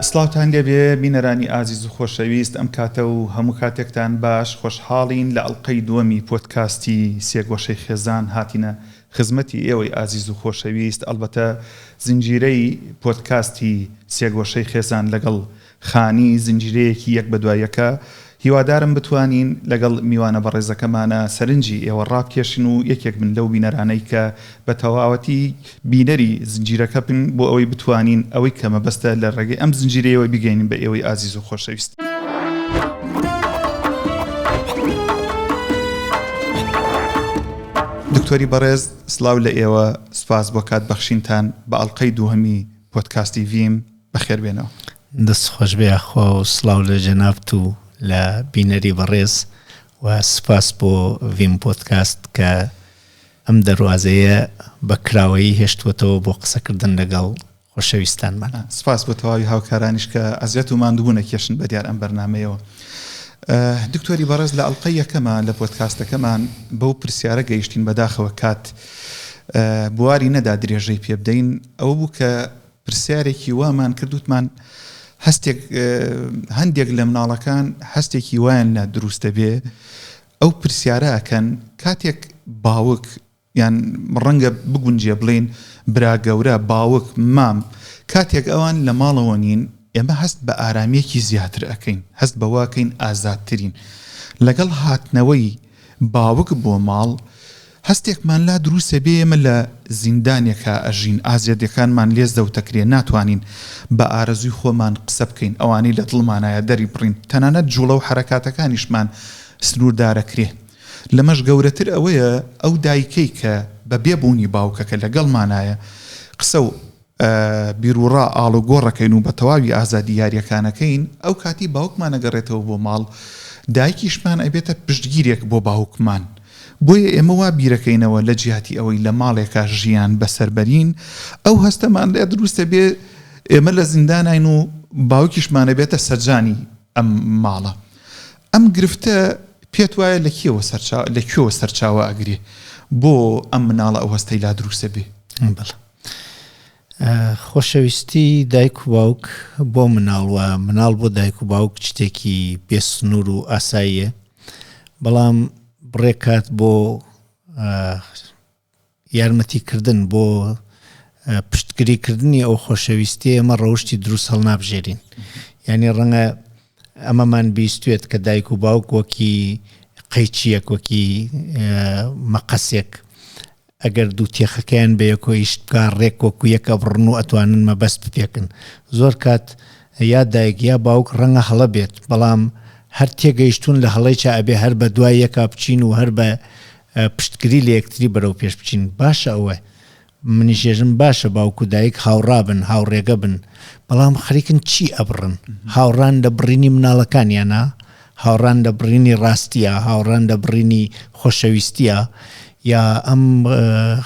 سڵاوتان لێبێ بینەرانی ئازیز و خۆشەویست ئەم کاتە و هەموو کاتێکتان باش خۆشحاڵین لە ئەڵقەی دووەمی پۆدکاستی سێگۆشەی خێزان هاتینە خزمەتی ئێوەی ئازیز و خۆشەویست ئەڵبەتە زنجیرەی پۆدکاستی سێگۆشەی خێزان لەگەڵ خانی، زنجیرەیەکی یەک بەدوای یەکە، هیوادارم بتوانین لەگەڵ میوانە بەڕێزەکەمانە سەرنجی ئێوە ڕابکێشن و یەکێک بن لەو بینەرانەی کە بە تەواوەتی بینەری زنجیرەکە بن بۆ ئەوەی بتوانین ئەوەی کە مەبەستە لە ڕێگەی ئەم زنجیرەیەوە بیگەینین بە ئێوەی ئازیز و خۆشەویست. دکتۆری بەڕێز سڵاو لە ئێوە، سوپاس بۆ کات بەخشینتان بە ئەڵقەی دووهەمی پۆدکاستی ڤیم. بەخێر بێنەوە. دەست خۆش بێ یاخوا و سڵاو لە جەنابت و لە بینەری بەڕێز و سوپاس بۆ ڤیم پۆدکاست کە ئەم دەروازەیە بە کراوەیی هێشتووەتەوە بۆ قسەکردن لەگەڵ خۆشەویستانمان. سوپاس بۆ تەواوی هاوکارانیش کە ئەزیەت و ماندوبون ئەکێشن بە دیار ئەم بەرنامەیەوە. دکتۆری بەڕێز لە ئەڵقەی یەکەما لە پۆدکاستەکەمان بەو پرسیارە گەیشتین بەداخەوە کات بواری نەدا درێژەی پێبدەین ئەوە بوو کە پرسیارێکی وامان کرد وتمان هەستێک هەندێک لە مناڵەکان هەستێکی وایان لا دروست دەبێ ئەو پرسیارە ئەکەن کاتێک باوک یان ڕەنگە بگونجێ بڵین برا گەورە باوک مام کاتێک ئەوان لە ماڵەوە نین ئێمە هەست بە ئارامیەکی زیاتر ئەەکەین هەست بەواکەین ئازادترین لەگەڵ هاتنەوەی باوک بۆ ماڵ، هەستێکمان لا دروستە بێ ئێمە لە زیندانێکا ئەژین، ئازێتیەکانمان لێ زەوتەکرێ، ناتوانین بە ئارەزووی خۆمان قسە بکەین، ئەوانەی لە دڵمانایە دەری بڕین، تەنانەت جوڵە و حەرەکاتەکانیشمان سنووردارەکرێ. لەمەش گەورەتر ئەوەیە ئەو دایکەی کە بە بێ بوونی باوکەکە لە گەڵمانایە قسە و. بیروڕا ئاڵوگۆڕەکەین و بە تەواوی ئازادی یاریەکانەکەین، ئەو کاتی باوکمان ئەگەڕێتەوە بۆ ماڵ، دایکیشمان ئەبێتە پشتگیرێک بۆ باوکمان. بۆیە ئێمە وا بیرەکەینەوە لە جیاتی ئەوەی لە ماڵێکا ژیان بەسەر بەرین، ئەو هەستەمان لێ دروست ئەبێ ئێمە لە زینداناین و باوکیشمان ئەبێتە سەرجانی ئەم ماڵە. ئەم گرفتە پێت وایە لە کێوە سەرچاوە لە کوێوە سەرچاوە ئەگرێ بۆ ئەم مناڵە ئەو هەستەی لا دروست ئەبێ؟ بەڵێ. خۆشەویستی دایک و باوک بۆ مناڵ و مناڵ بۆ دایک و باوک شتێکی بێسنوور و ئاساییە بەڵام بڕێکات بۆ یارمەتیکردن بۆ پشتگریکردنی ئەو خۆشەویستی ئەمە ڕەوشی دروست هەڵ نابژێرین یعنی ڕەنگە ئەمەمان بیستێت کە دایک و باوک وەکی قەیچیەک وەکی مەقەسێک ئەگەر دوو تێخەکەیان بەیەکۆ ئیش بکا ڕێک وەکو یەک ئەبڕن و ئەتوانن مەبەست بپێکن زۆر کات یا دایک یا باوک ڕەنگە هەڵە بێت بەڵام هەر تێگەیشتوون لە هەڵەیچە ئەبێ هەر بە دوای یەکا بچین و هەر بە پشتگری لە یەکتری بەرەو پێش بچین باشە ئەوە منیشێژم باشە باوکو دایک هاوڕابن هاوڕێگە بن بەڵام خەریکن چی ئەبڕن هاوڕان لە بڕینی مناڵەکانیانە هاوڕان لە بڕینی ڕاستیە، هاوڕان لە بڕینی خۆشەویستیە، یا ئەم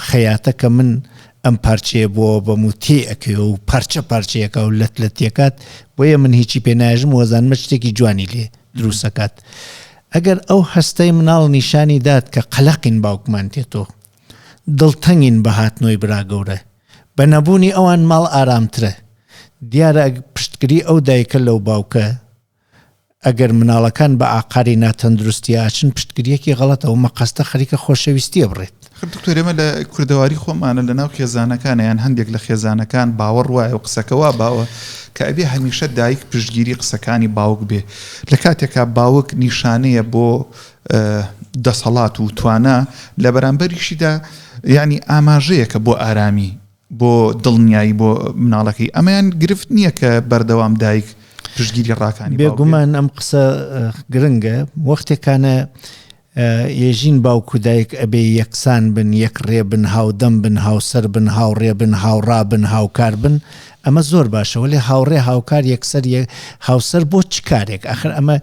خەیاتە کە من ئەم پارچەیە بۆ بەم و تێ ئەکەوێ و پارچە پارچەیەکە و لەت لە تێکات بۆیە من هیچی پێ ناژم وەزانمە شتێکی جوانی لێ دروستەکات ئەگەر ئەو هەستەی مناڵ نیشانی دات کە قەلەقین باوکمان تێتۆ دڵتەنگین بە هاتنەوەی برا گەورە بە نەبوونی ئەوان ماڵ ئارامترە دیارە پشتگری ئەو دایکە لەو باوکە ئەگەر مناڵەکان بە ئاقاری ناتەندروستی ئاچن پشتگریەکی غەڵەتە ئەو مەقەستە خەریکە خۆشەویستیە بڕێت. خە دکتۆر ئێمە لە کوردەواری خۆمانە لە ناو خێزانەکانە یان هەندێک لە خێزانەکان باوەڕ وایە و قسەکە وا باوە کە ئەبێ هەمیشە دایک پشتگیری قسەکانی باوک بێ لە کاتێکا باوک نیشانەیە بۆ دەسەڵات و توانا لە بەرامبەریشیدا یعنی ئاماژەیەکە بۆ ئارامی بۆ دڵنیایی بۆ مناڵەکەی ئەمەیان گرفت نییە کە بەردەوام دایک پشتگیری ڕاکانی بێگومان ئەم قسە گرنگە وەختێکانە ێژین باوک و دایک ئەبێ یەکسان بن یەک ڕێ بن هاودەم بن هاوسەر بن هاوڕێ بن هاوڕا بن هاوکار بن ئەمە زۆر باشەوە لێ هاوڕێ هاوکار یەکسەر هاوسەر بۆ چ کارێک ئەخر ئەمە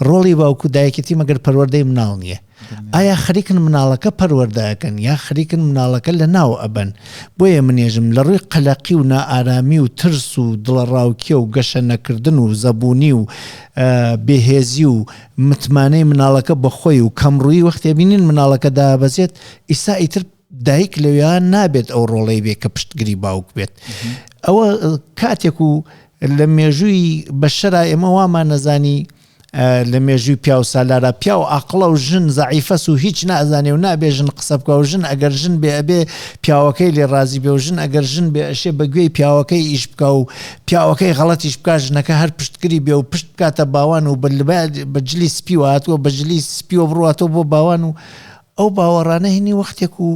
ڕۆڵی باوکو دایکێتی مەگەر پەروەەردەی مناڵ نییە ئایا خەریکن مناڵەکە پەروەردەئەکەن یا خەریکن مناڵەکە لەناو ئەبەن بۆیە منێژم لەڕووی قەلەقی و نائارامی و ترس و دڵەڕاوکێ و گەشە نەکردن و زەبوونی و بێهێزی و متمانەی مناڵەکە بەخۆی و کەمڕووی وەختێ بینین مناڵەکە دابەزێت ئیسا ئیتر دایک لەوێ نابێت ئەو ڕۆڵەی بێ کە پشتگری باوک بێت ئەوە کاتێک و لە مێژووی بەشەرا ئێمە وامان نەزانی لە مێژووی پیاو سالارە پیاو ئاقڵە و ژن زەعیفەس و هیچ نازانێ و نابێ ژن قسە بکە و ژن ئەگەر ژن بێ ئەبێ پیاوەکەی لێ ڕازی بێ و ژن ئەگەر ژن بێ ئەشێ بە گوێی پیاوەکەی ئیش بکا و پیاوەکەی غەڵەتیش بکا ژنەکە هەر پشتگری بێ و پشت بکاتە باوان و بە جلی سپیوە هاتووە بە جلی سپیوە بڕواتەوە بۆ باوان و ئەو باوەڕانە هینی وەختێک و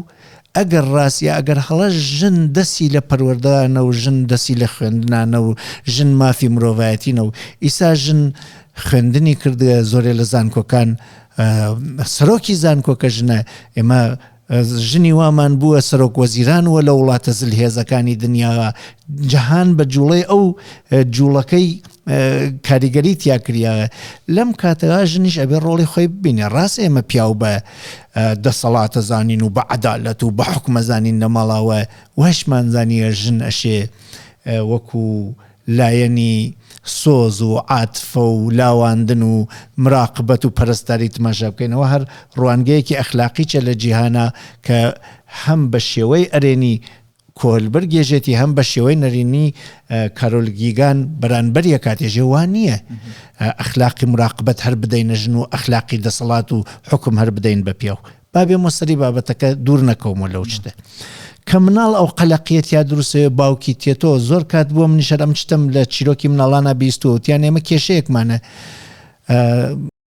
ئەگەر ڕاست یا ئەگەر هەڵە ژن دەستی لە پەروەردەانە و ژن دەستی لە خوێندنانە و ژن مافی مرۆڤایەتینە و ئیسا ژن خوێندنی کردگە زۆرێ لە زانکۆکان سەرۆکی زانکۆکە ژنە ئێمە ژنی وامان بووە سەرۆک وەزیران وە لە وڵاتە زل هێزەکانی دنیاوە جەهان بە جوڵەی ئەو جوڵەکەی کاریگەری تیا کریاە لەم کاتەدا ژنیش ئەبێ ڕۆڵی خۆی ببینێ ڕاست ئێمە پیاو بە دەسەڵاتە زانین و بە عدالەت و بە حکومەزانین لە ماڵاوە وەشمانزانیە ژن ئەشێ وەکو لایەنی سۆز و عاتفە و لاواندن و مراقبەت و پەرستاری تماشا بکەینەوە هەر ڕوانگەیەکی ئەخلاقیچە لە جیهانە کە هەم بە شێوەی ئەرێنی کۆهلبرگ یەژێتی هەم بە شێوەی نەرێنی کارۆل گیگان بەرانبەر یەکاتێژێ وا نییە ئەخلاقی مراقبەت هەر بدەینە ژن و ئەخلاقی دەسەڵات و حوکم هەر بدەین بە پیاو با بێمە سەری بابەتەکە دوور نەکەومە لەو شتە کە مناڵ ئەو قەلەقیەت یا دروستەوە باوکی تێتۆ زۆر کات بووە منیشەر ئەم شتم لە چیرۆکی مناڵانە بیستوەوتیان ئێمە کێشەیەکمانە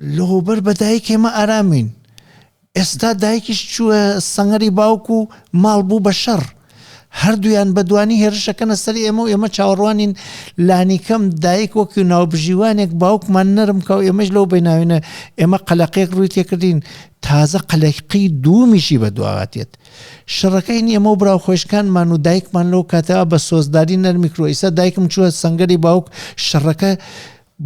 لهوبەر بە دایک ئێمە ئارامین. ئێستا دایکیش چووە سەنگەری باوک و ماڵ بوو بە شەڕ. هەردوویان بە دوانی هێرش ئەکەنە سەر ئێمە و ئێمە چاوەڕوانین لانیکەم دایک وەک ناوبژیوانێک باوکمان نەرم کا و ئێمەیش لەو بیناوینە ئێمە قەلەقێک ڕووی تێکردین تازە قەلەقی دوومیشی بە دواوە دێت. شەڕەکە هین ئێمە و برا خۆیشکانمان و دایکمان لەو کاتە بە سۆزداری نەرمی کرۆ ئیستا دایکم چووە سەنگەری باوک شەڕەکە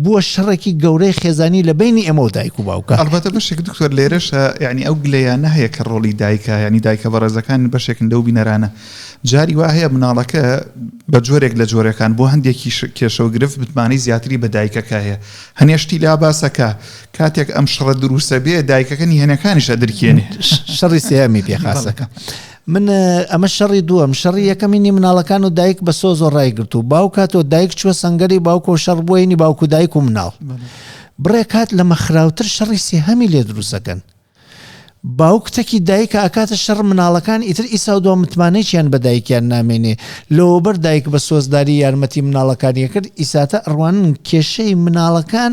بووە شەڕێکی گەورەی خێزانی لە بەینی ئێمە و دایک و باوکە. ئەڵبەتە بەشێک دکتۆر لێرەشە یانی ئەو گلەیانە هەیە کە ڕۆڵی دایکە یانی دایکە بەڕێزەکان بەشێکن لەو بینەرانە جاری وا هەیە مناڵەکە بە جۆرێک لە جۆرەکان بۆ هەندێکی کێشە و گرفت متمانەی زیاتری بە دایکەکە هەیە هەنێ شتی لا باسەکە کاتێک ئەم شڕە دروسە بێ دایکەکە نیهێنەکانیش ئەدرکێنێ شەڕی سێیەمی پێ خاسەکە. من ئەمە شەڕی دووەم شەڕی یەکەمینی مناڵەکان و دایک بە سۆز و ڕای گرت و باو کاتۆ دایک چوە سنگەری باوکۆ شەڕ بووینی باوکو دایک و مناڵ بڕێ کات لە مەخراوتر شەڕی سێهەمی لێ دروستەکەن باوک تەکی دایکە ئاکاتە شەڕ مناڵەکان ئیتر ئیسا و دو متمانەیان بە دایکیان نامێنێ لەوەبەر دایک بە سۆزداری یارمەتی مناڵەکانیە کرد ئیساتە ئەڕوانن کێشەی مناڵەکان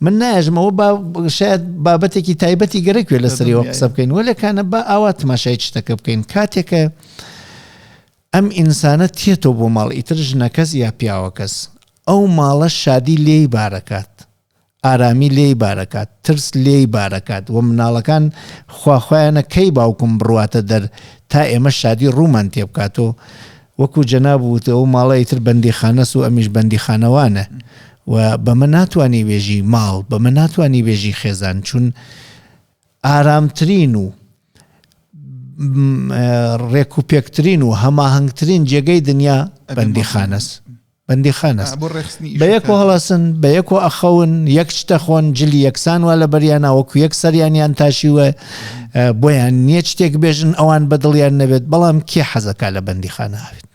من ناژمەوە با شاید بابەتێکی تایبەتی گەرەکوێ لە سەریەوە قسە بکەین وە لەکانە با ئاوا تماشای شتەکە بکەین کاتێکە ئەم ئینسانە تێتەوە بۆ ماڵ ئیتر ژنەکەس یا پیاوەکەس ئەو ماڵە شادی لێی بارەکات ئارامی لێی بارەکات ترس لێی بارەکات و مناڵەکان خواخوایانە کەی باوکم بڕواتە دەر تا ئێمە شادی ڕوومان تێبکاتۆ وەکو جەناب وت ئەو ماڵە ئیتر بەندیخانەس و ئەمیش بەندیخانەوانە و بەمە ناتوانی بێژی ماڵ بەمە ناتوانی بێژی خێزان چون ئارامترین و ڕێک و پێکترین و هەماهنگترین جێگەی دنیا بەندیخانەس بەندیخان است بە یەک و هەڵەسن بە یەک و ئەخەون یەک شتە خۆن جلی یەکسان وا لە بەریانا وەکو یەک سەریانیان تاشیوە بۆیان نییە شتێک بێژن ئەوان بەدڵیان نەبێت بەڵام کێ حەزەکە لە بەندیخانە هاوێت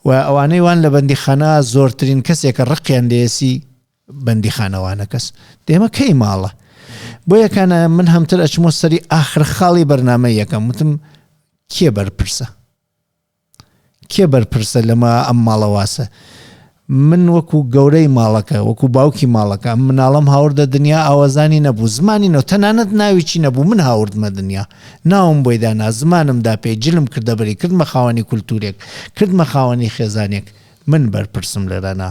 و ئەوانەی وان لە بەندیخانە زۆرترین کەسێکە ڕقیان لێسی بەندیخانەوانە کەس دێمە کەی ماڵە بۆ یەکانە من هەمتر ئەچمۆ سەری ئاخر خاڵی بەرنمە یەکەم وتم کێ بەرپرسە کێ بەرپرسە لەمە ئەم ماڵە واسە من وەکو گەورەی ماڵەکە وەکو باوکی ماڵەکە ئەم مناڵم هاوردە دنیا ئاوازانی نەبوو زمانی نەوە تەنانەت ناویی نەبوو من هاوردمە دنیا ناوم بۆی دانا زمانم دا پێی جلم کردە بەری کردمە خاوەنی کولتورێک کردمە خاوەنی خێزانێک من بەرپرسم لەرەنا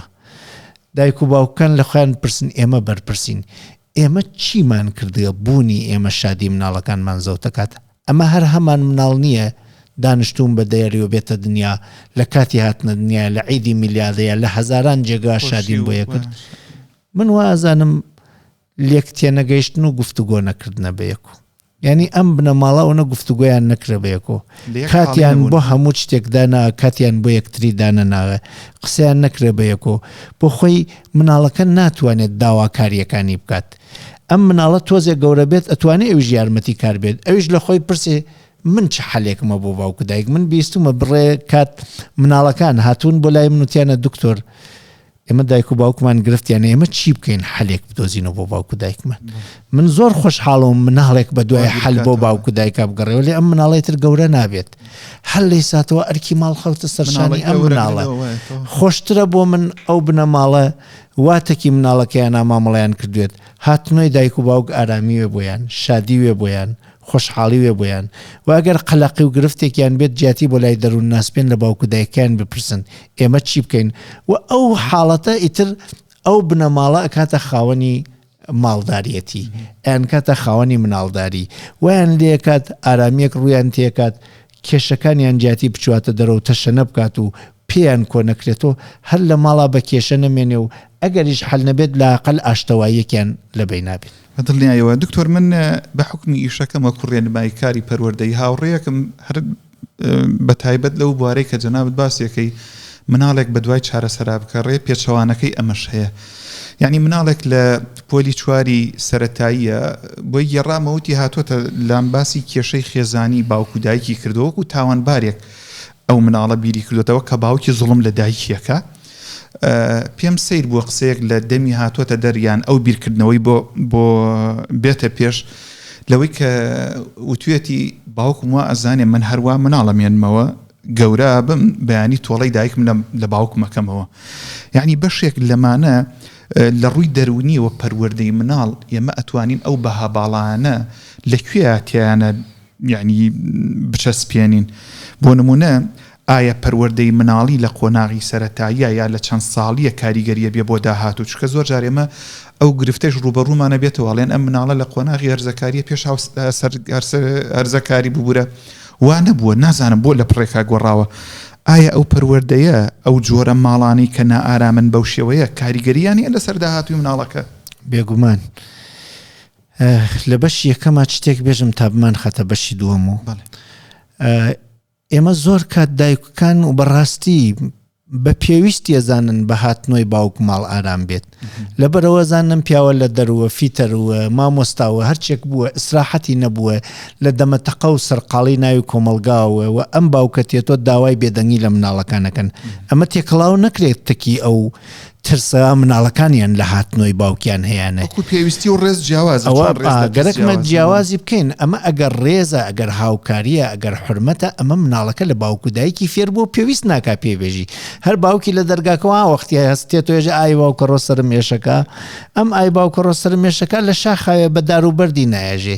دایک و باوکەکان لە خۆیان پرسن ئێمە بەرپرسین ئێمە چیمان کردگە بوونی ئێمە شادی مناڵەکانمان زەوتەکات ئەمە هەر هەمان مناڵ نیە دانشتوون بە دەیەری و بێتە دنیا لە کاتی هاتنە دنیایە لە عیدی میلادەیا لە هەزاران جێگا شادیم بۆ یەکرد من وا ئەزانم لێک تێنەگەیشتن و گفتوگۆ نەکردنە بەیەکو یعنی ئەم بنەماڵە ئەوە گفتوگویان نەکرە بەیەکۆ کاتیان بۆ هەموو شتێکدانا کاتیان بۆ یەکتری دانە ناوێ قسەیان نەکرێ بەیەکۆ بۆ خۆی مناڵەکە ناتوانێت داواکاریەکانی بکات ئەم مناڵە تۆزێ گەورە بێت ئەتوانێ ئەویش یارمەتی کار بێت ئەویش لە خۆی بپرسێ من چ حەلێکمە بۆ باوک و دایک من بیستومە بڕێ کات مناڵەکان هاتوون بۆ لای من وتیانە دکتۆر ئێمە دایک و باوکمان گرفتیان ئێمە چی بکەین حەلێک بدۆزینەوە بۆ باوک و دایکمان من زۆر خۆشحاڵەوە مناڵێک بە دوای حل بۆ باوک و دایکا بگەڕێەوە لێ ئەم مناڵی تر گەورە نابێت هەر لی ساتەوە ئەرکی ماڵ خەوتە سەرشانی ئەم مناڵە خۆشترە بۆ من ئەو بنەماڵە وا تەکی مناڵەکەیانا مامەڵەیان کردوێت هاتنۆی دایک و باوک ئارامی وێ بۆیان شادی وێ بۆیان خۆشحاڵی وێ بۆیان وە ئەگەر قەلەقی و گرفتێکیان بێت جیاتی بۆ لای دەرون ناس بێن لە باوک و دایکەیان بپرسن ئێمە چی بکەین وە ئەو حاڵەتە ئیتر ئەو بنەماڵە ئەکاتە خاوەنی ماڵداریەتی ئەیان کاتە خاوەنی مناڵداری ویان لێکات ئارامیەک ڕویان تێکات کێشەکانیان جیاتی بچواتە دەرەوە تەشەنە بکات و پێیان کۆ نەکرێتەوە هەر لە ماڵا بە کێشە نەمێنێ و ئەگەریش حل نەبێت لاقل ئاشتەواییەکیان لە بینابێت دڵنیایەوە دکتۆر من بە حکمی ئیشەکەمە کوڕێن بای کاری پەروەردەی هاوڕەیەکم هەر بە تایبەت لەو بوارەی کە جەنابت باسی ئەکەی مناڵێک بە دوای چارەسەرا بگەڕێ پێچەوانەکەی ئەمەش هەیە یعنی مناڵێک لە پۆلی چواری سەتاییە بۆی گێڕامەوتی هاتووەتە لام باسی کێشەی خێزانی باوکو دایکی کردووەکو تاوانبارێک ئەو مناڵە بیری کردوێتەوە کە باوکی زوڵم لە دایکیەکە پێم سەیر بووە قسەیەک لە دەمی هاتووەتە دەر یان ئەو بیرکردنەوەی بۆ بۆ بێتە پێش لەوەی کە وتوێتی باوکم وا ئەزانێ من هەروە مناڵەمێنمەوە گەورە بم بەیانی تۆڵەی دایکم لە باوکمەکەمەوە یعنی بەشێک لەمانە لە ڕووی دەرونیەوە پەروەردەی مناڵ ئێمە ئەتوانین ئەو بەها باڵانە لەکوێ تیانە یعنی بچەسپێنین بۆ نمونە ئایا پەروەردەی مناڵی لە قۆناغی سەرەتاییە یا لە چەند ساڵیە کاریگەریە بێ بۆ داهاتوو چونکە زۆر جار ئێمە ئەو گرفتەش ڕووبەڕوومانە بێتەوە ئەڵێن ئەم مناڵە لە قۆناغی هەرزەکاریە پێش هەرزەکاری ببورە وا نەبووە نازانم بۆ لە پڕێکا گۆڕاوە ئایا ئەو پەروەردەیە ئەو جۆرە ماڵانی کە نائارامن بەو شێوەیە کاریگەریان هەیە لەسەر داهاتووی مناڵەکە؟ بێگومان لە بەشی یەکەما چ تێک بێژم تا بمان خەتە بەشی دووەم و بەڵێ ئێمە زۆر کات دایککان و بەڕاستی بە پێویستی ئەزانن بە هاتنۆی باوک ماڵ ئارام بێت لە بەرەوە زانم پیاوە لە دەروە فیتەروە مامۆستاوە هەرچێک بووە ئیسراحەتی نەبووە لە دەمەتەقە و سەرقاڵی ناوی کۆمەلگاوە و ئەم باوکە تێتۆ داوای بێدەنگی لە مناڵەکانەکەن ئەمە تێکەڵاو نەکرێت تەکی ئەو ترسە مناڵەکانیان لە هاتنۆی باوکیان هەیانە وەکو پێویستی و ڕێز جیاوازە ئەوە چۆن ڕێز لە کەس گەرەکمە جیاوازە بۆ؟ جیاوازی بکەین ئەمە ئەگەر ڕێزە ئەگەر هاوکاریە ئەگەر حرمەتە ئەمە مناڵەکە لە باوک و دایکی فێر بووە پێویست ناکا پێی بێژی هەر باوکی لە دەرگاکەوە وەختی هەستێت توێژ ئای باوکەڕۆ سەرم ئێشەکە ئەم ئای باوکەڕۆ سەرم مێشەکە لە شاخاوێ بە دار و بەردی نایەژێ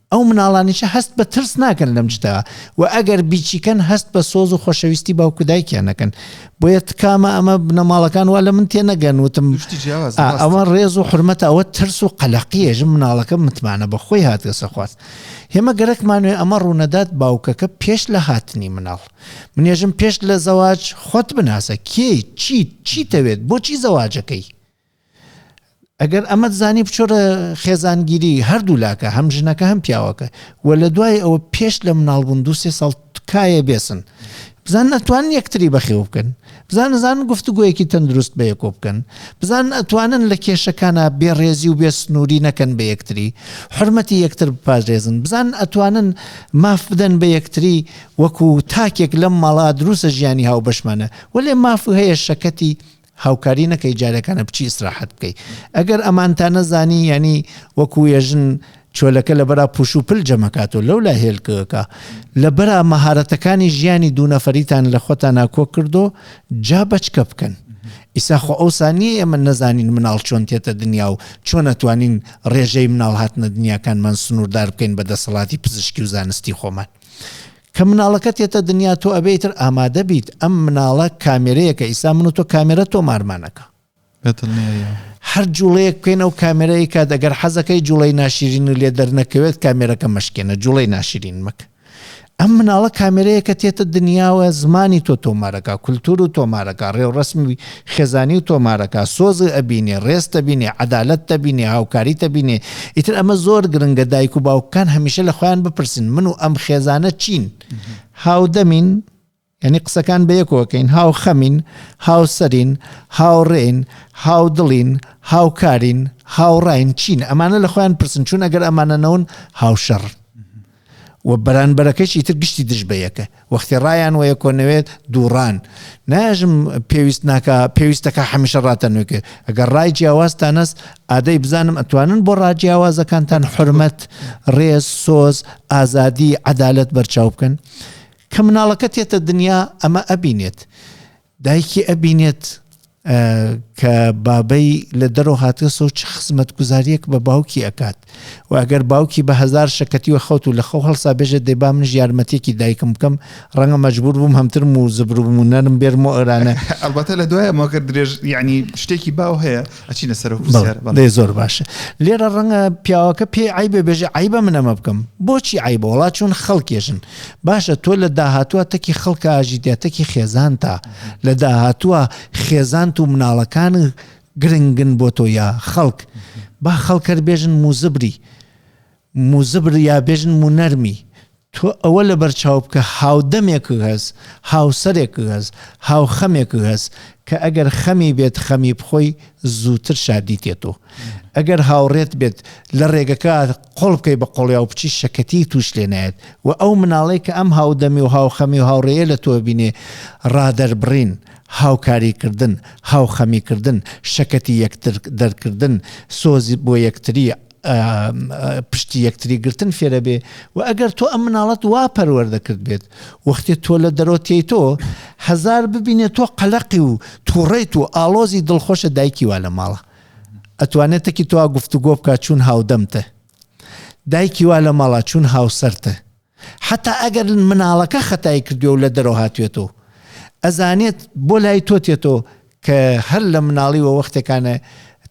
ئەو مناڵانیشە هەست بە ترس ناکەن لەم جدە و ئەگەر بیچیکەن هەست بە سۆز و خۆشەویستی باوکو دایکیان نەکەن بۆیە تکامە ئەمە بنەماڵەکان وا لە من تێ نەگەن وتم ئەوە ڕێز و حرمەت ئەوە ترس و قەلەقیەژم مناڵەکە متمانە بە خۆی هاتگەسە خواست هێمە گەرەکمانوێ ئەمە ڕوونەدات باوکەکە پێش لە هاتنی مناڵ منێژم پێش لە زەواج خۆت بناسە کێی چیت چیتەوێت بۆچی زەواجەکەی ئەگەر ئەمەت زانی بچۆرە خێزانگیری هەردوو لاکە هەم ژنەکە هەم پیاوەکە و لە دوای ئەوە پێش لە مناڵبوون دو سێ ساڵ تکایە بێسن بزان ئەتوان یەکتری بەخێو بکەن بزان نزان گفتوگویەکی تەندروست بە یەکۆ بکەن بزان ئەتوانن لە کێشەکانە بێڕێزی و بێ سنووری نەکەن بە یەکتری حرمەتی یەکتر بپارێزن بزان ئەتوانن ماف بدەن بە یەکتری وەکو تاکێک لەم ماڵا دروسە ژیانی هاو بەشمانە وەێ ماف هەیە شەکەتی هاوکاری نەکەی جارێکانە بچی ئیسراحەت بکەی ئەگەر ئەمانتانە زانی یانی وەکو یەژن چۆلەکە لە بەرا پوش و پل جەمەکات و لەولا هێلکەکە لە بەرا مەهارەتەکانی ژیانی دوو نەفەریتان لە خۆتانا کۆ کردۆ جا بەچکە بکەن ئیسا خۆ ئەو سانیە ئێمە نەزانین مناڵ چۆن تێتە دنیا و چۆن ئەتوانین ڕێژەی مناڵ هاتنە دنیاکانمان سنووردار بکەین بە دەسەڵاتی پزیشکی و زانستی خۆمان کە مناڵەکەت یەتە دنیا تۆ ئەبێ ئیتر ئامادە بیت ئەم مناڵە کامێرەیەکە ئیستا من و تۆ کامێرە تۆمارمان ئەکا بە دڵنیاییەوە هەر جوڵەیەک بکەین ئەو کامێرە ئەیکات ئەگەر حەزەکەی جوڵەی ناشیرین و لێ دەرنەکەوێت کامێرەکە مەشکێنە جوڵەی ناشیرین مەکە ئەم مناڵە کامێرەیەکە تێتە دنیاوە زمانی تۆ تۆمارەکە کولتور و تۆمارەکە ڕێوڕەسمی خێزانی و تۆمارەکە، سۆز ئەبینێ، ڕێز تەبینێ، عەدالەت تەبینێ، هاوکاری تەبینێ، ئیتر ئەمە زۆر گرنگە دایک و باوکەکان هەمیشە لە خۆیان بپرسن من و ئەم خێزانە چین؟ هاودەمین؟ یعنی قسەکان بە یەکۆکەین هاو خەمین هاوسەرین هاوڕێین هاودڵین هاوکارین هاوڕین چین ئەمانە لە خۆیان پرسن چون ئەگەر ئەمانە نەون هاوشەڕ و بەرانبەرەکەشی تر گشتی دژ بە یەکە وەختی ڕایان وە یەکۆ نەوێت دووڕان ناژم پێویست ناکە پێویستەکە هەمیشە ڕاتە نوێکێ ئەگەر ڕای جیاوازتانەس ئادەی بزانم ئەتوانن بۆ ڕاجیاوازەکانتان حرمەت ڕێز سۆز ئازادی عەدالەت بەرچاو بکەن کە مناڵەکە تێتە دنیا ئەمە ئەبینێت دایکی ئەبینێت کە بابەی لە دەرەوە هاتە سەو چ خزمەت گوزاریەک بە باوکی ئەکات و ئەگەر باوکی بە هزار شەکەتی و خەوت و لە خەو هەڵسا بێژە دەی با منش یارمەتێکی دایکم بکەم ڕەنگە مەجبور بووم هەمترم و زبروبوو نەرم بێرم و ئەرانە ئەڵبەتە لە دوای مۆگەر درێژ یعنی شتێکی باو هەیە ئەچینە سەرەوە پرسیار بەڵێ دەی زۆر باشە لێرە ڕەنگە پیاوەکە پێی عیبێ بێژێ عیبە من ئەمە بکەم بۆچی عیبە وڵات چون خەڵکێژن باشە تۆ لە داهاتوە تەکی خەڵکە ئاژیتە تەکی خێزان تا لە داهاتوە خێزانت و مناڵەکان گرنگن بۆ تۆ یا خەڵک با خەڵکەر بێژن موزبری موزبر یا بێژن مونەرمی تۆ ئەوە لەبەر چاو بکە هاودەمێکک هەس هاوسەرێکک هەس هاوخەمێکک هەس کە ئەگەر خەمی بێت خەمی بخۆی زووتر شادی تێتۆ ئەگەر هاوڕێت بێت لە ڕێگەکە قۆڵ بکەی بە قۆڵیا و بچی شەکەتی توش لێ نایەت و ئەو مناڵەی کە ئەم هاودەمی و هاوخەمی و هاوڕێیە لە تۆ بینێ ڕادەربڕین هاوکاری کردن هاوخەمی کردن شەکەتی یەکتر دەرکردن سۆزی بۆ یەکتری پشتی یەکتری گرتن فێرە بێ و ئەگەر تۆ ئەم مناڵەت وا پەروەەردە کرد بێت وەختێ تۆ لە دەرۆتیی تۆ هزار ببینێت تۆ قەلەقی و تووڕیت و ئالۆزی دڵخۆشە دایکی وا لە ماڵە ئەتوانێتەکی تۆ گفتوگۆ بکە چون هاودەمتە دایکی وا لە ماڵا چون هاوسەرتە حەتا ئەگەر مناڵەکە خەتای کردوێ و لە دەرەوە هاتوێتەوە ئەزانێت بۆ لای تۆ تێتەوە کە هەر لە مناڵی وە وەختێکانە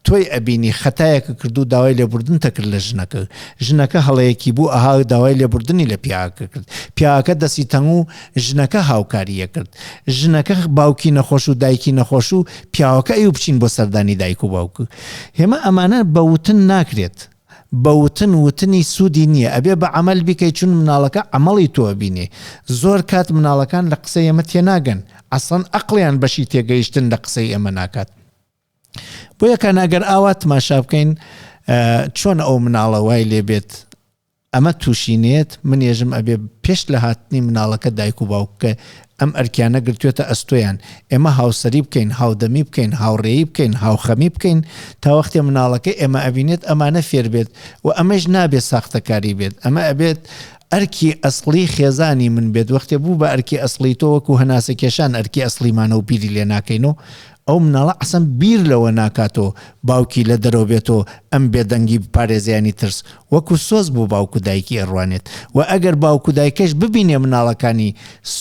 تۆی ئەبینی خەتایەکە کردو داوای لێبوردن تەکرد لە ژنەکە ژنەکە هەڵەیەکی بوو ئەها داوای لێبوردنی لە پیاکە کرد پیاکە دەسی تەنگ و ژنەکە هاوکاریە کرد ژنەکە باوکی نەخۆش و دایکی نەخۆش و پیاوەکە ئەو بچین بۆ سەردانی دایک و باوک هێمە ئەمانە بەوتن ناکرێت بە وتن وتنی سودی نیە ئەبێ بە عەمەل بیکەی چون مناڵەکە عەمەڵی تۆ ئەبینێ زۆر کات مناڵەکان لە قسەی ئێمە تێناگەن عەسڵەن ئەقڵیان بەشی تێگەیشتن لە قسەی ئێمە ناکات بۆیە کان ئەگەر ئاوا تماشا بکەین چۆن ئەو مناڵە وای لێبێت ئەمە تووشینێت منێژم ئەبێ پێش لە هاتنی مناڵەکە دایک و باوککە ئەم ئەرکیانە گرتوێتە ئەستۆیان، ئێمە هاوسەری بکەین، هاودەمی بکەین، هاوڕێی بکەین، هاوخەمی بکەین، تا وەختێ مناڵەکە ئێمە ئەبینێت ئەمانە فێر بێت و ئەمەیش نابێت ساختەکاری بێت، ئەمە ئەبێت ئەرکی ئەسڵی خێزانی من بێت، وەختێ بوو بە ئەرکی ئەسڵی تۆ وەکو هەناسەکێشان ئەرکی ئەسڵیمانە و بیری لێ ناکەین و ئەو مناڵە عەسەن بیر لەوە ناکات و باوکی لە دەرەوە بێت و ئەم بێدەنگی بپارێزێ یانی ترس وەکو سۆز بۆ باوک و دایکی ئەڕوانێت و ئەگەر باوک و دایکەش ببینێ مناڵەکانی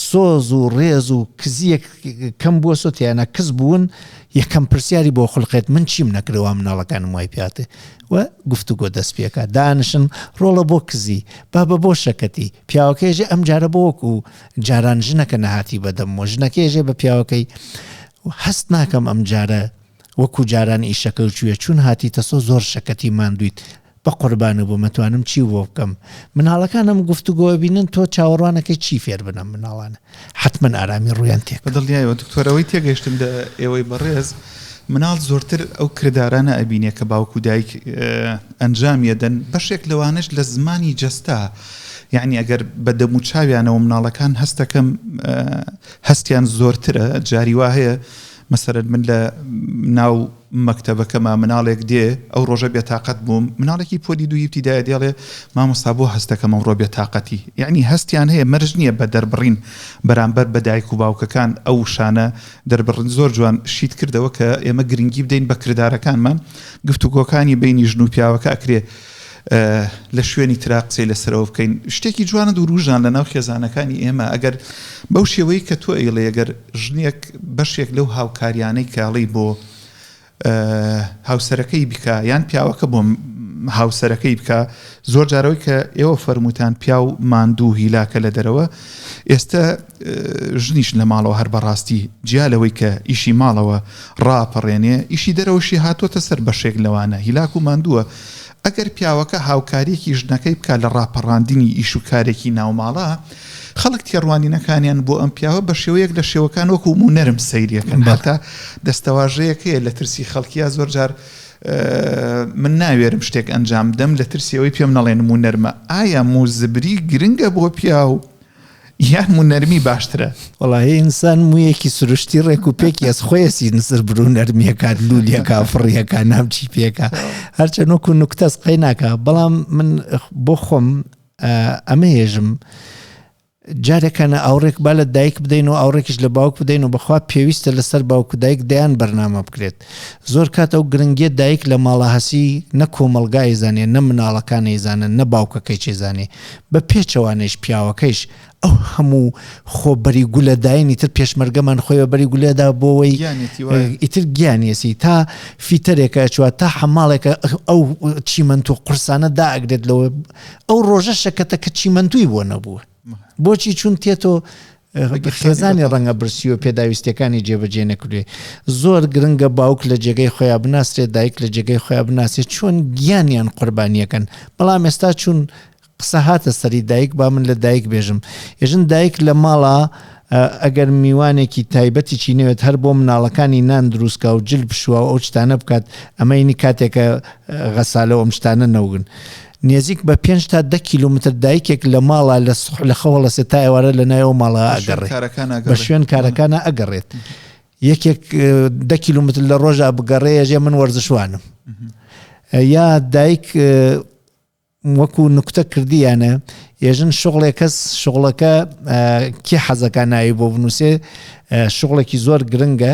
سۆز و ڕێز و کزیەک کەم بوەسۆت یانە کز بوون یەکەم پرسیاری بۆ خولقێت من چیم نەکرد وا مناڵەکانم وای پیاتێ و گفتوگۆ دەست پێکا دانشن ڕۆڵە بۆ کزی بابە بۆ شەکەتی پیاوەکەیژێ ئەم جارە بۆ وەکو جاران ژنەکە نەهاتی بەدەمەوە ژنەکەیژێ بە پیاوەکەی هەست ناکەم ئەم جارە وەکو جاران ئیشەکەو چویە چون هاتیتە سۆ زۆر شەکەتی ماندویت بەقوربانو بم ئەتوانم چیو بۆ بکەم مناڵەکان ئەم گفتوگۆ ئەبینن تۆ چاوەڕوانەکەی چی فێر بنەم مناڵانە حەتمەن ئارامی ڕویان تێک بەدڵنیایەوە دکتۆر ئەوەی تێگەشتم لە ئێوەی بەڕێز مناڵ زۆرتر ئەو کردارانە ئەبینێ کە باوکو دایک ئەنجامی ئەدەن بەشێک لەوانەش لە زمانی جەستە یعنی ئەگەر بە دەمو چاویانەوە مناڵەکان هەستەکەم هەستیان زۆرترە جاری وا هەیە مەسەلەن من لە ناو مەکتەبەکەما مناڵێک دێ ئەو ڕۆژە بێتاقەت بووم مناڵێکی پۆلی دوو یبتیدایە دێڵێ مامۆستا بۆ هەستەکەم ئەمڕۆ بێتاقەتی یعنی هەستیان هەیە مەرج نییە بە دەربڕین بەرامبەر بە دایک و باوکەکان ئەو شانە دەربڕن زۆر جوان شیت کردەوە کە ئێمە گرنگی بدەین بە کردارەکانمان گفتوگۆکانی بینی ژن و پیاوەکە ئەکرێ لە شوێنی ترا قسەی لەسەرەوە بکەین شتێکی جوانە دووروژان لە ناو خێزانەکانی ئێمە ئەگەر بەو شێوەی کە تۆ ئەیڵێ ئەگەر ژنێک بەشێک لەو هاوکاریانەی کاڵی بۆ هاوسەرەکەی بکە یان پیاوەکە بۆ هاوسەرەکەی بکە زۆر جارەوەی کە ئێوە فەرمووتان پیا و ماندوو هیلاکە لە دەرەوە ئێستا ژنیش لە ماڵەوە هەر بە ڕاستی جیا لەوەی کە ئیشی ماڵەوە ڕاپەڕێنێ ئیشی دەرەوەشی هاتووەتە سەر بەشێک لەوانە هیلاک و ماندووە ئەگەر پیاوەکە هاوکاریەکی ژنەکەی بکات لە ڕاپەڕاندنی ئیش و کارێکی ناوماڵە خەڵک تێڕوانینەکانیان بۆ ئەم پیاوە بە شێوەیەک لە شێوەکان وەکو و نەرم سەیریەکەن بەتا دەستەواژەیەکەیە لە ترسی خەڵکیە زۆر جار من ناوێرم شتێک ئەنجام دەم لە ترسیەوەی پێم نەڵێنم و نەرمە ئایا موزبری گرنگە بۆ پیاو یان مو نەرمی باشترە. وەڵاهی ئینسان مویەکی سروشتی ڕێک و پێکی ئەس خۆیەسی نسر برو نەرمیەکات لولیەکە فڕیەکە نام چی پێکە هەرچە نۆک و نوکتەس قەی ناکە بەڵام من بۆ خۆم ئەمە هێژم جارێکانە ئاوڕێک با لە دایک بدەین و ئاوڕێکیش لە باوک بدەین و بەخوا پێویستە لەسەر باوک و دایک دەیان بەرنامە بکرێت زۆر کات ئەو گرنگیە دایک لە ماڵە هەسی نە کۆمەڵگا ئەیزانێ نە مناڵەکان ئەیزانن نە باوکەکەیچ ئەیزانێ بە پێچەوانەیش پیاوەکەیش ئەو هەموو خۆ بەری گولە داینی تر پێشمەرگەمان خۆی بە بەری گولێدا بۆەوەی ئیتر گیانیەسی تا فیتەرێکە ئەچوە تا حەماڵێکە ئەو چیمەند و قورسانە دائگرێت لەوە ئەو ڕۆژە شەکەتە کە چیمەندوی بۆ نەبووە بۆچی چون تێتۆ خێزانی ڕەنگە برسی و پێداویستیەکانی جێبەجێ نەکردێ زۆر گرنگە باوک لە جێگەی خۆیان بناسرێت دایک لە جێگەی خۆیان بناسێت چۆن گیانیان قوربانیەکەن بەڵام ئێستا چون قسە هاتە سەری دایک با من لە دایک بێژم ێژن دایک لە ماڵە ئەگەر میوانێکی تایبەتی چینەوێت هەر بۆ مناڵەکانی نان دروستکە و جل بشوە و ئەو شتانە بکات ئەمەینی کاتێکە غەسالەوە ئەم شتانە نەوگن نێزیک بە پێنج تا دە کیلۆمەتر دایکێک لە ماڵە لە سوح لە خەوە ڵەسێت تا ئێوارە لە ناوی ئەو ماڵە ئەگەڕێت کارەکان بە ئەگەڕێ شوێن کارەکانە ئەگەڕێت یەکێک اه، دە کیلۆمەتر لە ڕۆژا بگەڕێ ژێ من وەرزشوانم اه، یا دایک اه، وەکو نکتە کردیانە ئێژن شغڵێ کەس شغڵەکە اه، کێ حەزەکە ناوی بۆ بنووسێ اه، شغڵێکی زۆر گرنگە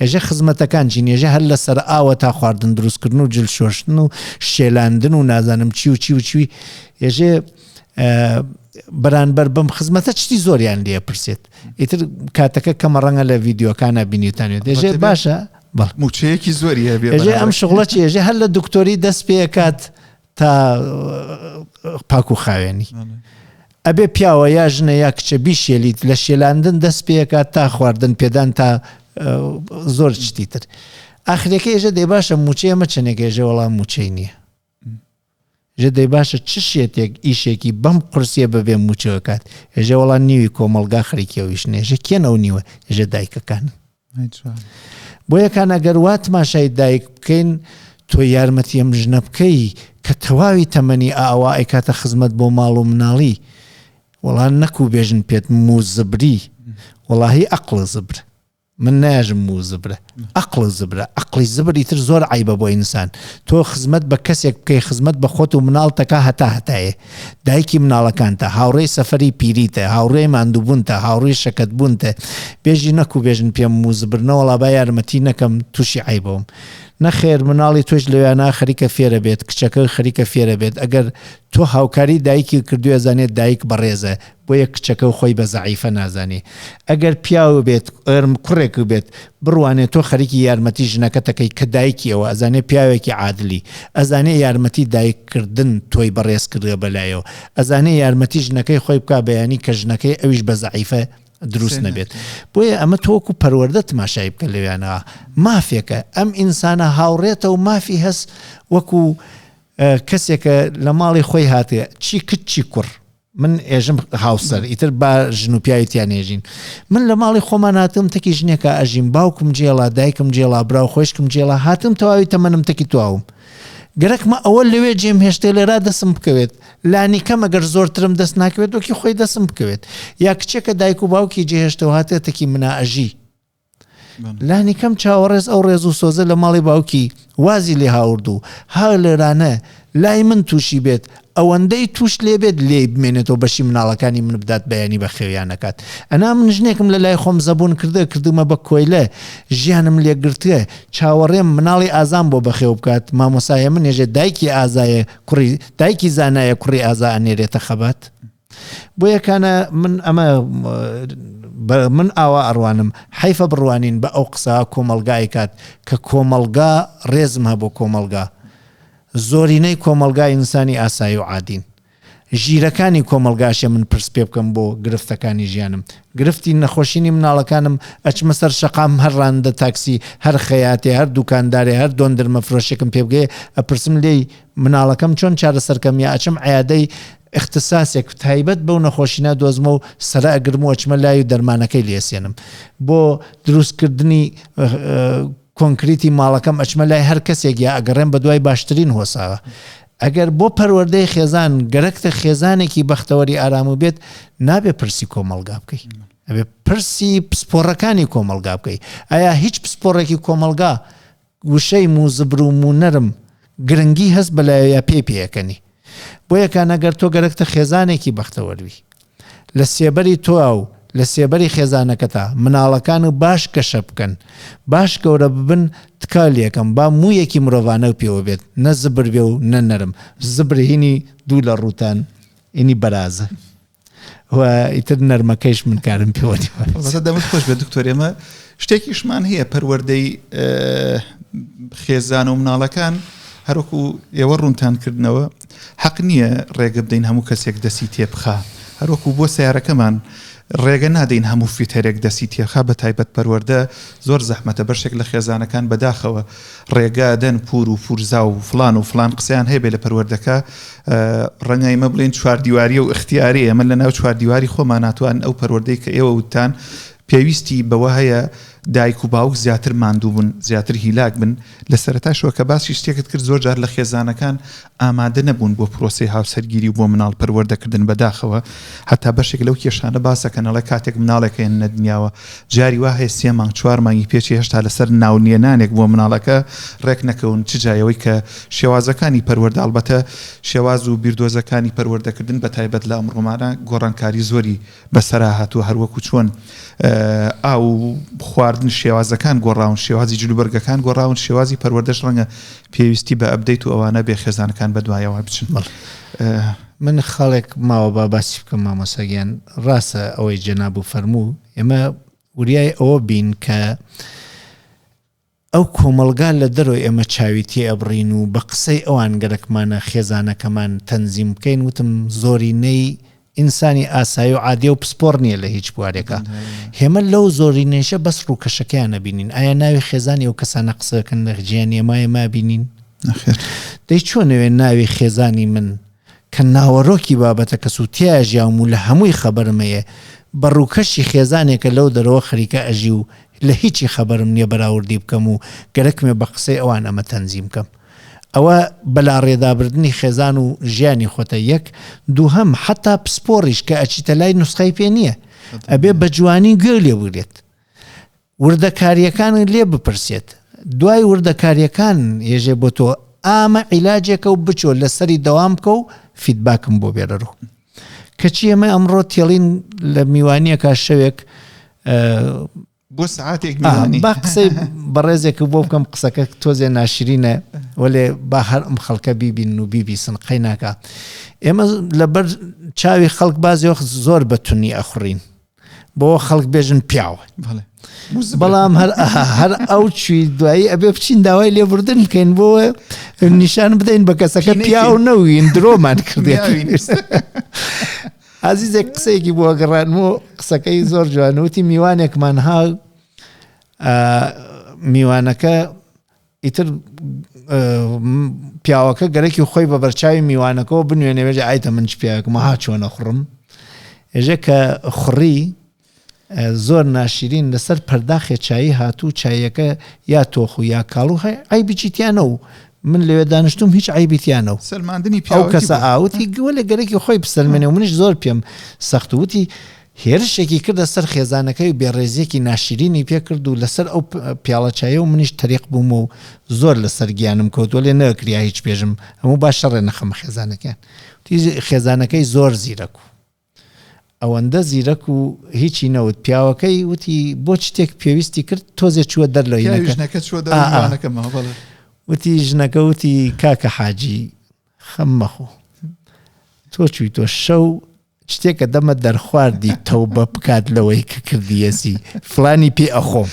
ئێژە خزمەتەکان چین ێژە هەر لە سەر ئاوە تا خواردن دروستکردن و جل شۆشتن و شێلاندن و نازانم چی و چی و چوی ێژێ بەرانبەر بم خزمەتە چتی زۆریان لێ پرسێت ئیتر کاتەکە کەمە ڕەنگە لە ڤیددیوکانە بینیتانێت دێژێ باشە موچەیەکی زۆری هەبێ ئەم شغڵە چێژێ هەر لە دکتۆری دەست پێکات تا پاک و خاوێنی ئەبێ پیاوە یا ژنە یا کچە بیشێلیت لە شێلاندن دەست پێکات تا خواردن پێدان تا زۆر شتی تر ئاخرەکە ێژە دەی باشە موچە ئەمە چەندێک ێژە وەڵام موچەی نییە ژە دەی باشە چ شێتێک ئیشێکی بەم قرسیە بەبێ موچەکات ێژە وەڵام نیوی کۆمەلگا خەریکیەوەیش نێژە کێن ئەو نیوە ێژە دایکەکانن بۆیە کان ئەگەر وا تماشای دایک بکەین تۆ یارمەتی ئەم ژنە بکەی کە تەواوی تەمەنی ئاوا ئەیکاتە خزمەت بۆ ماڵ و مناڵی وەڵان نەکو بێژن پێت موزبری وەڵاهی ئەقلە زبر من ناژم موو زبرە ئەقل زبرە ئەقلی زبری تر زۆر عیبە بۆ ئینسان تۆ خزمەت بە کەسێک بکەی خزمەت بە خۆت و مناڵتەکە هەتا هەتایە دایکی مناڵەکانتە، هاوڕێی سەفەری پیریتە، هاوڕێی ماندووبوونتە، هاوڕێی شەکەتبوونتە، بێژی نەک و بێژن پێم موزبر نەوەڵا با یارمەتی نەکەم تووشی عەیبەوم. نەخێر مناڵی تۆش لەویانا خەریکە فێرە بێت، کچەکەی خەریکە فێرە بێت، ئەگەر تۆ هاوکاری دایکی کردووی ئەزانێت دایک بەڕێزە، بۆیە کچەکە و خۆی بە زەعیفە نازانێ ئەگەر پیاو بێت ێرم کوڕێک بێت بڕوانێ تۆ خەریکی یارمەتی ژنەکەتەکەی کە دایکی ئەوە ئەزانێ پیاوێکی عادلی ئەزانێ یارمەتی دایک کردن تۆی بەڕێز کردوە بەلایەوە ئەزانێ یارمەتی ژنەکەی خۆی بکا بەیانی کە ژنەکەی ئەویش بە زەعیفە دروست نەبێت بۆیە ئەمە تۆکو پەروەەردە تماشای بکە لەویانەوە مافێکە ئەم ئینسانە هاوڕێتە و مافی هەست وەکو کەسێکە لە ماڵی خۆی هاتێ چی کچ چی کوڕ من ئێژم هاوسەر ئیتر با ژن و پیاوی تیا نێژین من لە ماڵی خۆمان هاتم تەکی ژنێکە ئەژیم باوکم جێڵا دایکم جێڵا براو خۆشکم جێڵا هاتم تەواوی تەمەنم تەکی تواوم گەرەکمە ئەوە لەوێ جێم هێشتێ لێرا دەسم بکەوێت لانی کەم ئەگەر زۆرترم دەست ناکەوێت وەکی خۆی دەسم بکەوێت یا کچێکە دایک و باوکی جێهێشتەوە هاتێتەکی منا ئەژی لانیکەم چاوەڕێز ئەو ڕێز و سۆزە لە ماڵی باوکی وازی لێ هاورد و هەر لێرانە لای من تووشی بێت، ئەوەندەی تووش لێ بێت لێی بمێنێتەوە بەشی مناڵەکانی من بدات بەیانی بە خێویان نەکات. ئەنا من ژنێکم لە لای خۆم زەبوون کردوە کردوومە بە کۆیلە ژیانم لێ گرتوە چاوەڕێم مناڵی ئازام بۆ بەخێو بکات مامۆسایە منێژێ دایکی ئازایە کوڕی دایکی زانایە کوڕی ئازا ئەنێرێتە خەبات. بۆیە کانە من ئەمە من ئاوا ئەڕوانم حەیفە بڕوانین بە ئەو قسە کۆمەڵگا ئەیکات کە کۆمەڵگا ڕێزم هە بۆ کۆمەڵگا زۆرینەی کۆمەلگا ئینسانی ئاسایی و عادین ژیرەکانی کۆمەلگاشە من پرس پێ بکەم بۆ گرفتەکانی ژیانم گرفتی نەخۆشیی مناڵەکانم ئەچمە سەر شقام هەر ڕاندە تاکسی هەر خەیاتێ هەر دوکاندارێ هەر دۆندرمە فرۆشێکم پێبگەێ ئەپرسم لێی مناڵەکەم چۆن چارەسەر کەم یا ئەچم عیادەی اختساسێک تایبەت بەو نەخۆشی نادۆزمە و سەرە ئەگرم و ئەچمە لای و دەرمانەکەی لێسێنم بۆ دروستکردنی کۆنکریتی ماڵەکەم ئەچمە لای هەر کەسێک یا ئەگەڕێن بە دوای باشترین هۆساوە ئەگەر بۆ پەروەردەی خێزان گەرەکتە خێزانێکی بەختەوەری ئارام و بێت نابێ پرسی کۆمەلگا بکەیت ئەبێ پرسی پسپۆڕەکانی کۆمەلگا بکەیت ئایا هیچ پسپۆڕێکی کۆمەلگا وشەی موزبر و مونەرم گرنگی هەس بە لایویا پێی پێەکەنی بۆیەکان ئەگەر تۆ گەرەکتە خێزانێکی بەختەوەر بی لە سێبەری تۆا و لە سێبەری خێزانەکەتا مناڵەکان و باش گەشە بکەن باش گەورە ببن تکا لێکەم با مویەکی مرۆڤانەو پێوە بێت نە زبر بێ و نە نەرم زبر هینی دوو لە ڕوتان ئینی بەرازە. و ئیتر نەرمەکەیش من کارم پێوە دەمت خۆش بێت دکتۆر ئێمە شتێکیشمان هەیە پەروەردەی خێزان و مناڵەکان هەروکو ئێوە ڕوونتان کردنەوە حەق نییە ڕێگە بدەین هەموو کەسێک دەسی تێبخە هەروەکو بۆ سیارەکەمان ڕێگە نادەین هەموو فیتەرێک دەسی تێخا بە تایبەت پەروەەردە زۆر زەحمەتە بەشێک لە خێزانەکان بەداخەوە ڕێگا دەن پور و پورزا و فڵان و فڵان قسەیان هەیە بێ لە پەروەردەکە ڕەنگە ئیمە بڵێن چواردیواری و اختیاری ئەمە لە ناو چواردیواری خۆمان ناتوان ئەو پەروەردەی کە ئێوە وتان پێویستی بەوە هەیە دایک و باوک زیاتر ماندوو بن زیاتر هیلاک بن لە سەرتاشەوە کە باسی شتێکت کرد زۆر جار لە خێزانەکان ئامادە نەبوون بۆ پرۆسەی هاوسەرگیری و بۆ مناڵ پەروەردەکردن بەداخەوە هەتا بەشێک لەو کێشانە باس دەکەن ئەڵێ کاتێک مناڵێک هێننە دنیاوە جاری وا هەیە سێ مانگ چوار مانگی پێچی هێشتا لەسەر ناو نێنانێک بۆ مناڵەکە ڕێک نەکەون چ جای ئەوەی کە شێوازەکانی پەروەردە ئەڵبەتە شێواز و بیردۆزەکانی پەروەردەکردن بەتایبەت لە ئەمڕۆمانە گۆڕانکاری زۆری بەسەراهاتووە هەروەکو چۆن ئاو و خواردن شێوازەکان گۆڕاون شێوازی جلوبەرگەکان گۆڕاون شێوازی پەروەردەش ڕەنگە پێویستی بە ئەبدەیت و ئەوانە بێ خێزانەکان بەدوایەوە بچن مەڵ من خاڵێک ماوە با باسی بکەم مامۆساگیان ڕاستە ئەوەی جەناب و فەرموو ئێمە وریای ئەوە بین کە ئەو کۆمەڵگا لە دەرەوە ئێمە چاوی تێ ئەبڕین و بە قسەی ئەوان گەرەکمانە خێزانەکەمان تەنزیم بکەین وتم زۆرینەی ئینسانی ئاسایی و عادیە و پسپۆڕ نیە لە هیچ بوارێکا هێمە لەو زۆرینەیشە بەس ڕووکەشەکەیان نەبینین ئایا ناوی خێزانی ئەو کەسانە قسەکەن لە ژیانی ئێمە ئێمە ئەبینین نەخێر دەی چۆن ئەوێ ناوی خێزانی من کە ناوەرۆکی بابەتە کەس و تێیا ژیاوم و لە هەمووی خەبەرم هەیە، بە ڕووکەشی خێزانێکە لەو دەرەوە خەریکە ئەژی و لە هیچی خەبەرم نییە بەراوردی بکەم و گەرەکمێ بە قسەی ئەوان ئەمە تەنزیم کەم. ئەوە بەلاڕێدابردنی خێزان و ژیانی خۆتە یەک، دووهەم حەتا پسپۆڕیش کە ئەچیتە لای نوسخەی پێ نییە. ئەبێ بە جوانی گوێ لێ بگرێت. وردەکاریەکانی لێ بپرسێت دوای وردەکاریەکان یێژێ بۆ تۆ ئامە عیلاجێکە و بچۆ لەسەری دەوام بکە و فیدباکم بۆ بێرەرو کەچی ئەمە ئەمڕۆ تێڵین لە میوانیەکە شەوێک بۆ سعاتێک با قسەی بەڕێزێک بۆ بکەم قسەکە تۆزێ ناشرینە وەێ با هەر ئەم خەڵکە بیبین و بیبی سنقەی ناکە ئێمە لەبەر چاوی خەڵک بازیۆخ زۆر بەتونی ئەخڕین بۆ خەڵک بێژن پیاو بەڵام هەر هەر ئەو چوی دوایی ئەبێ بچین داوای لێبوردن بکەین بۆ نیشان بدەین بە کەسەکە پیاو نەوین درۆمان کردی ئازیزێک قسەیەکی بۆ گەڕان و قسەکەی زۆر جوانوتی میوانێکمان ها میوانەکە ئیتر پیاوەکە گەرەکی خۆی بە بەرچاوی میوانەکەەوە بنوێنێ بێژە ئایتە من چ پیاوێکم ها چۆنە خوڕم ئێژە کە خوڕی زۆر ناشرین لەسەر پەرداخێ چایی هاتوو چایەکە یا تۆخ و یا کاڵو هەیە ئەی بچیتیانە و من لەوێ دانیشتم هیچ عیبیتیانە و سەلماندنی پێو کەسە ئاوتی گوە لە گەرەکی خۆی بسەلمێنێ و منش زۆر پێم سەختوتی هێرشێکی کردە سەر خێزانەکەی و بێڕێزییەکی ناشیرینی پێ کرد و لەسەر ئەو پیاڵە چایە و منیش تەریق بووم و زۆر لەسەر گیانم کەوت وەلێ نەئەکریا هیچ بێژم هەموو با شەڕێ نەخەمە خێزانەکەیان وتی خێزانەکەی زۆر زیرەک و ئەوەندە زیرەک و هیچی نەوت پیاوەکەی وتی بۆ چتێک پێویستی کرد تۆزێ چووە دەر لە ژنەکە چووە دەرەکەمەوە بەڵێ وتی ژنەکە وتی کاکە حاجی خەم مەخۆ تۆ چوی تۆ شەو شتێکە دەمە دەرخواردی تەوبە بکات لەوەی کە کردیەسی فلانی پێ ئەخۆم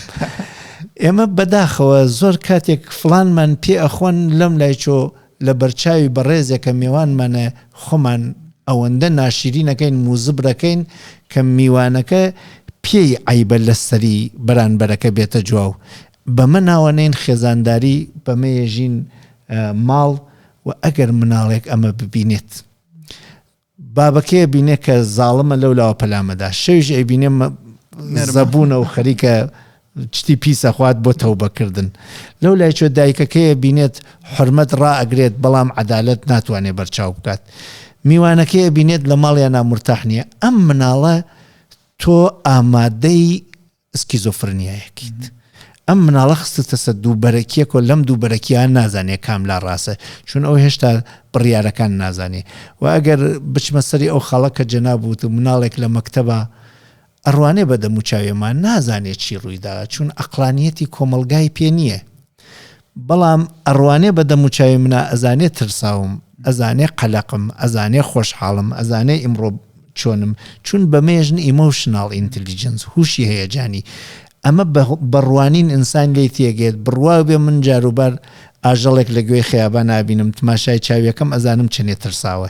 ئێمە بەداخەوە زۆر کاتێک فلانمان پێ ئەخۆن لەم لای چۆ لە بەرچاوی بەڕێزێکە میوانمانە خۆمان ئەوەندە ناشیرینەکەین موزبرەکەین کە میوانەکە پێی عیبە لەسەری بەرانبەرەکە بێتە جوواو بەمە ناوەنین خێزانداری، بەمە یەژین ماڵ و ئەگەر مناڵێک ئەمە ببینێت بابەکەی ئەبینێ کە زاڵمە لەو لاوە پەلامەدا شەویش ئەیبینێ زەبوونە و خەریکە چتی پیسەخوات بۆ تەوبەکردن لەو لای چۆ دایکەکەیە بینێت حرمەت ڕائگرێت بەڵام عدالت ناتوانێت بەرچاو بکات میوانەکەی بینێت لە ماڵیان نامرتاح نییە ئەم مناڵە تۆ ئامادەی سکیزۆفرنیایەکیت ئەم مناڵە خستتەسە دوو بەرەکیەک و لەم دوو بەرەکیە نازانێ کام لا ڕاسە چون ئەو هێشتا بڕیارەکان نازانێ وە ئەگەر بچمە سەری ئەو خاڵە کە جەناب وت مناڵێک لە مەکتەبا ئەڕوانێ بە دەموچاوێما نازانێ چی ڕوویدا چون ئەقڵانیەتی کۆمەڵگای پێ نیە بەڵام ئەڕوانێ بە دەموچاوی منا ئەزانێ ترساوم ئەزانێ قەلەقم ئەزانێ خۆشحاڵم ئەزانێ ئیمڕۆ چۆنم چون بەمێژن ئیمۆشناڵ ئینتلیجنس هوشی هەیەجانی ئەمە بەڕوانین ئینسان لێی تێگەێت بڕواو بێ من جاروبار ئاژەڵێک لە گوێی خەیابان ئابینم تماشای چاویەکەم ئەزانم چەنێ ترساوە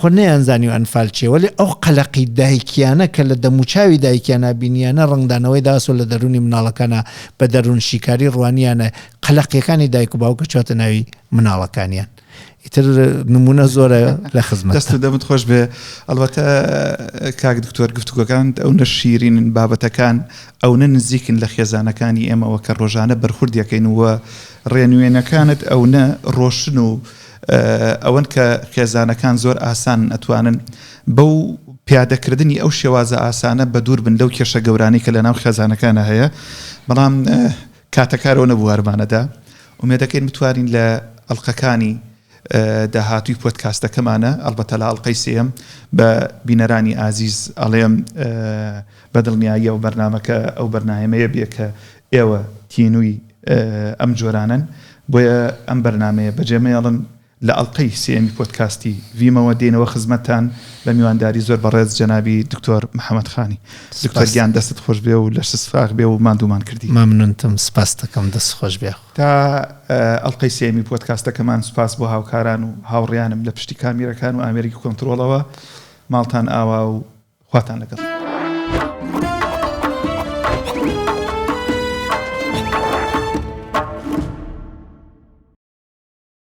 خۆ نەیانزانی ئەنفال چیە وەلێ ئەو قەلەقی دایکیانە کە لە دەموچاوی دایکیانا بینیانە ڕەنگدانەوەی داسۆ لە دەروونی مناڵەکانا بە دەروون شیکاری ڕوانیانە قەلەقیەکانی دایک و باوک کەچوەتە ناوی مناڵەکانیان ئیتر نمونە زۆرە لە خزمەت. دەست و دەمت خۆش بێ ئەڵبەتە کاک دکتۆر گفتوگۆکانت ئەونە شیرینن بابەتەکان ئەونە نزیکن لە خێزانەکانی ئێمەوە کە ڕۆژانە بەرخوردیەکەین و ڕێنوێنەکانت ئەونە ڕۆشن و ئەوەن کە خێزانەکان زۆر ئاسان ئەتوانن بەو پیادەکردنی ئەو شێوازە ئاسانە بە دوور بن لەو کێشە گەورانەی کە لەناو خێزانەکانە هەیە بەڵام کاتەکارەوە نەبوو هەرمانەدا ئومێدەکەین بتوانین لە ئەڵلقەکانی داهاتوی پۆتکاستەکەمانە ئەلبەتە لە ئەڵلقەی سێم بە بینەرانی ئازیز ئەڵێم بە دڵنیاییەوە بەرنمەکە ئەو بەرنمەیە بێ کە ئێوە تینووی ئەم جۆرانەن بۆیە ئەم بەرنامەیە بەجێمەیەڵن لە ئەڵقەی سێیەمی پۆدکاستی ڤیمەوە دێینەوە خزمەتتان بە میوانداری زۆر بەڕێز جەنابی دکتۆر محمد خانی دکتۆر گیان دەستت خۆشبێ و لەشت سفاخ بێ و ماندوومان کردی مەمنونتم سپاستەکەم دەست خۆش بێ تا ئەڵلقەی سێمی پۆدکاستەکەمان سپاس بۆ هاوکاران و هاوڕیانم لە پشتی کامیرەکان و ئامێرگی کۆنتترۆڵەوە ماڵتان ئاوا و خواتان لەگەڵ.